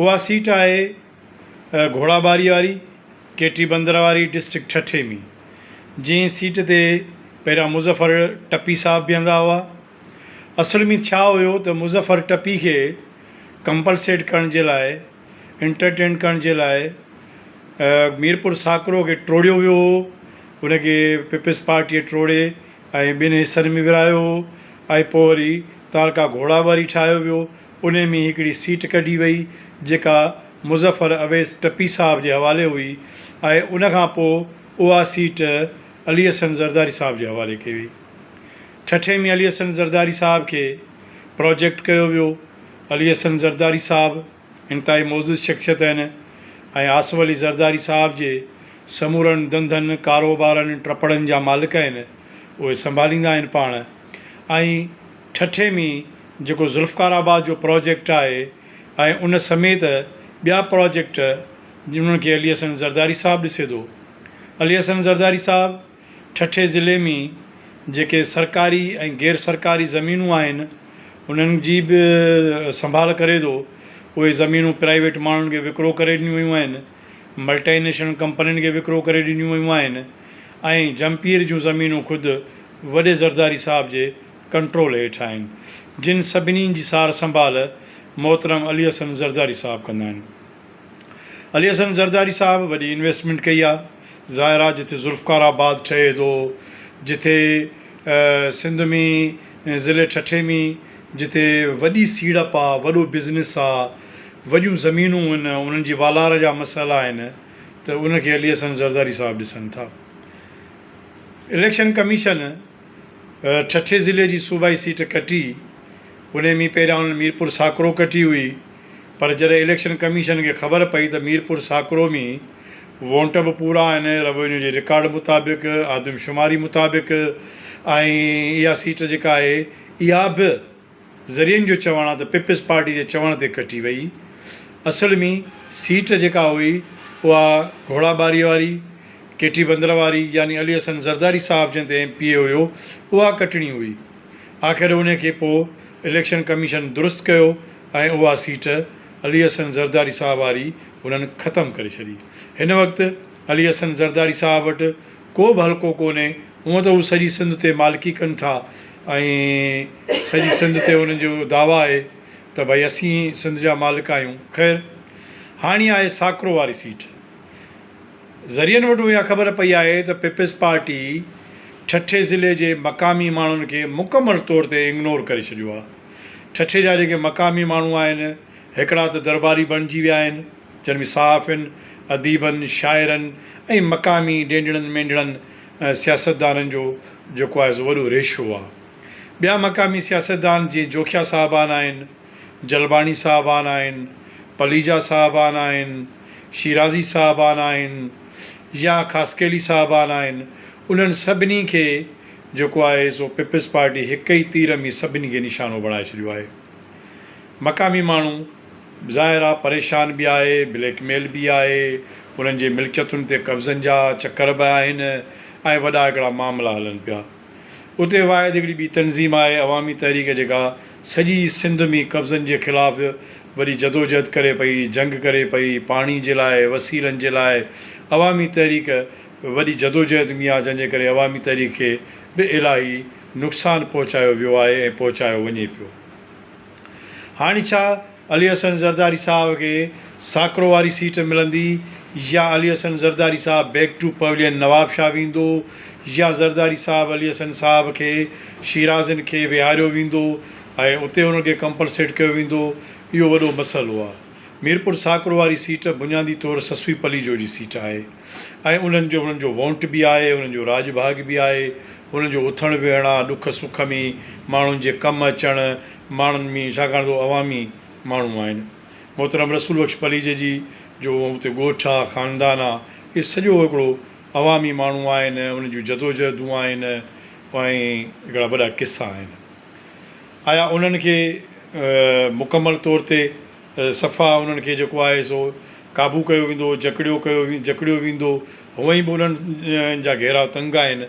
اها سيٽ آهي گهوڙا ٻاري واري ڪي ٽي بندر واري ڊسٽرڪٽ ٺٽي ۾ جنهن سيٽ تي پهريان مظفر ٽپي صاحب بيهندا هئا اصل ۾ ڇا هيو ته مظفر ٽپي کي ڪمپلسيٽ ڪرڻ جي لاء انٽرٽينٽ ڪرڻ جي لاء ميرپور ساڪرو کي ٽوڙيو ويو هو ان کي پيپلز پارٽيء ٽوڙي ۽ ٻن حصن ۾ ورهايو هو ۽ پوء وري تعلقه گهوڙا ٻاري ٺاهيو ويو انهي ۾ هڪڙي سيٽ ڪڍي وئي جيڪا مظفر اويس ٽپي صاحب جي حوالي هئي ۽ ان کان پوء اها سيٽ علي حسن زرداري صاحب جي حوالي ڪئي وئي. ٺٽي ۾ علي حسن زرداري صاحب کي پراجيڪٽ ڪيو ويو. علي حسن زرداري صاحب انتهائي معزز شخصيت آهن ۽ آصف علي زرداري صاحب جي سمورن ڌنڌن، ڪاروبارن، ٽپڙن جا مالڪ آهن. اهي سنڀاليندا آهن پاڻ ۽. ٺٽي ۾ جيڪو ذوالفقار آباد جو پراجيڪٽ آهي ۽ ان سميت ٻيا پراجيڪٽ جنھن کي علي حسن زرداري صاحب ڏسي ٿو. علي حسن زرداري صاحب ٺٽي ضلعي ۾ جيڪي سرڪاري ۽ غير سرڪاري زمينون آهن انھن جي به سنڀال ڪري ٿو. اهي زمينون پرائيويٽ ماڻھن کي وڪرو ڪري ڏنيون ويون آهن. ملٽي نيشنل ڪمپنين کي وڪرو ڪري ڏنيون ويون آهن ۽ جهمپير جون زمينون خود وڏي زرداري صاحب جي ڪنٽرول هيٺ آهن، جن سڀني جي سار سنڀال محترم علي حسن زرداري صاحب ڪندا آهن. علي حسن زرداري صاحب وڏي انويسٽمينٽ ڪئي آهي، ظاهر آهي جتي ذوالفقار آباد ٺهي ٿو، جتي سنڌ ۾ ضلعي ٺٽي ۾ جتي وڏي سيڙپ آ، وڏو بزنس آ، وڏيون زمينون ان، انهن جي والار جا مسئلا آهن ته ان کي علي حسن زرداري صاحب ڏسن ٿا. اليڪشن ڪميشن ٺٽي ضلعي جي صوبائي سيٽ ڪٽي، انهي ۾ پهريان انهن ميرپور ساڪرو ڪٽي هئي، پر جڏهن اليڪشن ڪميشن کي خبر پئي ته ميرپور ساڪرو ۾ وونٽ به پورا آهن، روينيو جي رڪارڊ مطابق، آدمشماري مطابق ۽ اها سيٽ جيڪا آهي اها به ذريعن جو چوڻ آهي ته پيپلز پارٽي جي چوڻ تي ڪٽي وئي. اصل ۾ سيٽ جيڪا هئي اها گهوڙا ٻاري واري، ڪي ٽي بندر واري يعني علي حسن زرداري صاحب جنهن تي ايم پي اي هيو اها ڪٽڻي هئي. آخر ان کي پوء اليڪشن ڪميشن درست ڪيو ۽ اها سيٽ علي حسن زرداري صاحب واري هنن ختم ڪري ڇڏي. هن وقت علي حسن زرداري صاحب وٽ ڪو به حلقو ڪونهي. هونء ته هو سڄي سنڌ تي مالڪي ڪن ٿا ۽ سڄي سنڌ تي هنن جو دعويٰ آهي ته ڀئي اسين ئي سنڌ جا مالڪ آهيون. خير هاڻي آهي ساڪرو واري سيٽ. ذريعن وٽون اها خبر پئي آهي ته پيپلز پارٽي ٺٽي ضلعي جي مقامي ماڻهن کي مڪمل طور تي اگنور ڪري ڇڏيو آهي. ٺٽي جا جيڪي مقامي ماڻهو آهن، هڪڙا ته درٻاري بڻجي ويا آهن، جن ۾ صحافين، اديبن، شاعرن ۽ مقامي ڊينڊڙن مينڊڙن، سياستدانن جو جيڪو آهي سو وڏو ريشو آهي. ٻيا مقامي سياستدان جيئن جوکيا صاحبان آهن، جلباڻي صاحبان آهن، پليجا صاحبان آهن، شيرازي صاحبان آهن يا خاصخيلي صاحبان آهن، انهن سڀني کي جيڪو آهي سو پيپلز پارٽي هڪ ئي تير ۾ سڀني کي نشانو بڻائي ڇڏيو آهي. مقامي ماڻهو ظاهر آهي پريشان به آهي، بليڪ ميل به آهي، انهن جي ملڪيتن تي قبضن جا چڪر به آهن ۽ وڏا هڪڙا معاملا هلن پيا. اتي واحد هڪڙي ٻي تنظيم آهي عوامي تحريڪ جيڪا سڄي سنڌ ۾ قبضن جي خلاف وڏي جدوجهد ڪري پئي، جنگ ڪري پئي، پاڻي جي لاء، وسيلن جي لاء عوامي تحريڪ وڏي جدوجهد ۾ آهي جنهن جي ڪري عوامي تحريڪ کي به الاهي نقصان پهچايو ويو آهي ۽ پهچايو وڃي پيو. هاڻي ڇا علي حسن زرداري صاحب کي ساڪرو واري سيٽ ملندي يا علي حسن زرداري صاحب بيڪ ٽو پويلين نوابشاهه ويندو يا زرداري صاحب علي حسن صاحب کي شيرازين کي ويهاريو ويندو ۽ اتي انهن کي ڪمپنسيٽ ڪيو ويندو اهو وڏو مسئلو آهي. ميرپور ساڪرو واري سيٽ بنيادي طور سسوي پليجو جي سيٽ آهي. ۽ انهن جو انهن جو وونٽ به آهي، انهن جو راڄ ڀاڳ به آهي، انهن جو اٿڻ ويهڻ آهي، ڏک سک ۾ ماڻهن جي ڪم اچڻ ماڻهن ۾ ڇاڪاڻ ته اهي عوامي ماڻهو آهن. محترم رسول بخش پليجي جي جو اتي ڳوٺ آهي، خاندان آهي، اهي سڄو هڪڙو عوامي ماڻهو آهن، انهن جون جدوجهدون آهن ۽ هڪڙا وڏا قصا آهن. آيا انهن کي مڪمل طور تي صفا انهن کي جيڪو آهي سو قابو ڪيو ويندو جڪڙيو ڪيو جڪڙيو ويندو هونئن به انهن جا گهيرا تنگ آهن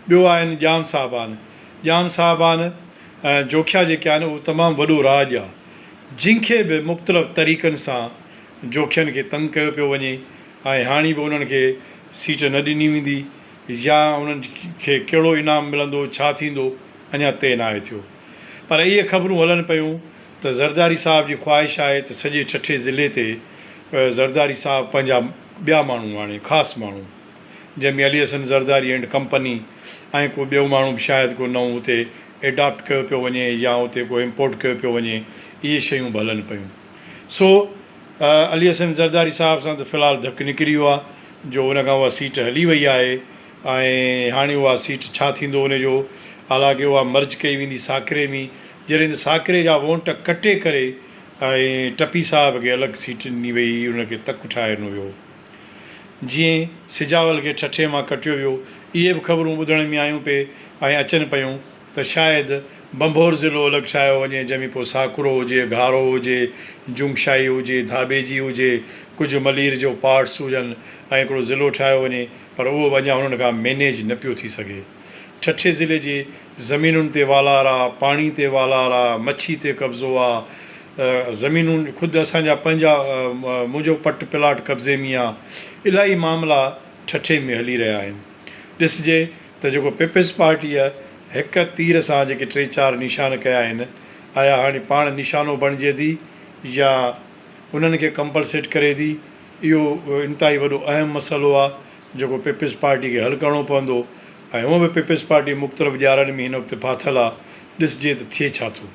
ٻيو آهن ڄام صاحبان ڄام صاحبان جوکيا جيڪي آهن اهو تمام وڏو راڄ آ جنهن کي به مختلف طريقن سان جوکين کي تنگ ڪيو پيو وڃي ۽ هاڻي به انهن کي سيٽ نه ڏني ويندي يا انهن کي ڪهڙو انعام ملندو، ڇا ٿيندو، اڃا طئي ناهي ٿيو. پر اهي خبرون هلن پيون ته زرداري صاحب جي خواهش آهي ته سڄي ٺٽي ضلعي تي زرداري صاحب پنهنجا ٻيا ماڻهو آڻي، خاص ماڻهو، جنهن ۾ علي حسن زرداري اينڊ ڪمپني ۽ ڪو ٻيو ماڻهو به شايد ڪو نئون اتي ايڊاپٽ ڪيو پيو وڃي يا اتي ڪو امپورٽ ڪيو پيو وڃي، اهي شيون به هلن پيون. سو علي حسن زرداري صاحب سان ته في الحال ڌڪ نڪري ويو آهي جو ان کان اها سيٽ هلي وئي آهي ۽ هاڻي اها سيٽ ڇا ٿيندو ان جو حالانڪه اها مرج ڪئي ويندي ساڪري ۾ جڏهن ته ساڪري جا وونٽ ڪٽي ڪري ۽ ٽپي صاحب کي الڳ سيٽ ڏني وئي هئي ان کي تڪ ٺاهي ڏنو ويو هو جيئن سجاول کي ٺٺي مان ڪٽيو ويو اهي به خبرون ٻڌڻ ۾ آيون پئي ۽ اچن پيون. ته شايد ڀنڀور ضلعو الڳ ٺاهيو وڃي جنهن ۾ پوء ساڪرو هجي، گهارو هجي، جومشاهي هجي، ڌاٻيجي هجي، ڪجهه ملير جو پارٽس هجن ۽ هڪڙو ضلعو ٺاهيو وڃي پر اهو به اڃا هنن کان مينيج نه پيو ٿي سگهي. ٺٽي ضلعي جي زمينن تي والار آ، پاڻي تي والار آ، مڇي تي قبضو آ، زمينون خود اسان جا پنهنجا منهنجو پٽ پلاٽ قبضي ۾ آ، الاهي معاملا ٺٽي ۾ هلي رهيا آهن. ڏسجي. ته جيڪو پيپلز پارٽيء هڪ تير سان جيڪي ٽي چار نشان ڪيا آهن، آيا هاڻي پاڻ نشانو بڻجي ٿي يا انهن کي ڪمپلسيٽ ڪري ٿي، اهو انتهائي وڏو اهم مسئلو آهي، جيڪو پيپلز پارٽيء کي حل ڪرڻو پوندو ۽ هونء به پيپلز پارٽي مختلف ڄارن ۾ هن وقت ڦاٿل آهي، ڏسجي ته ٿئي ڇا ٿو.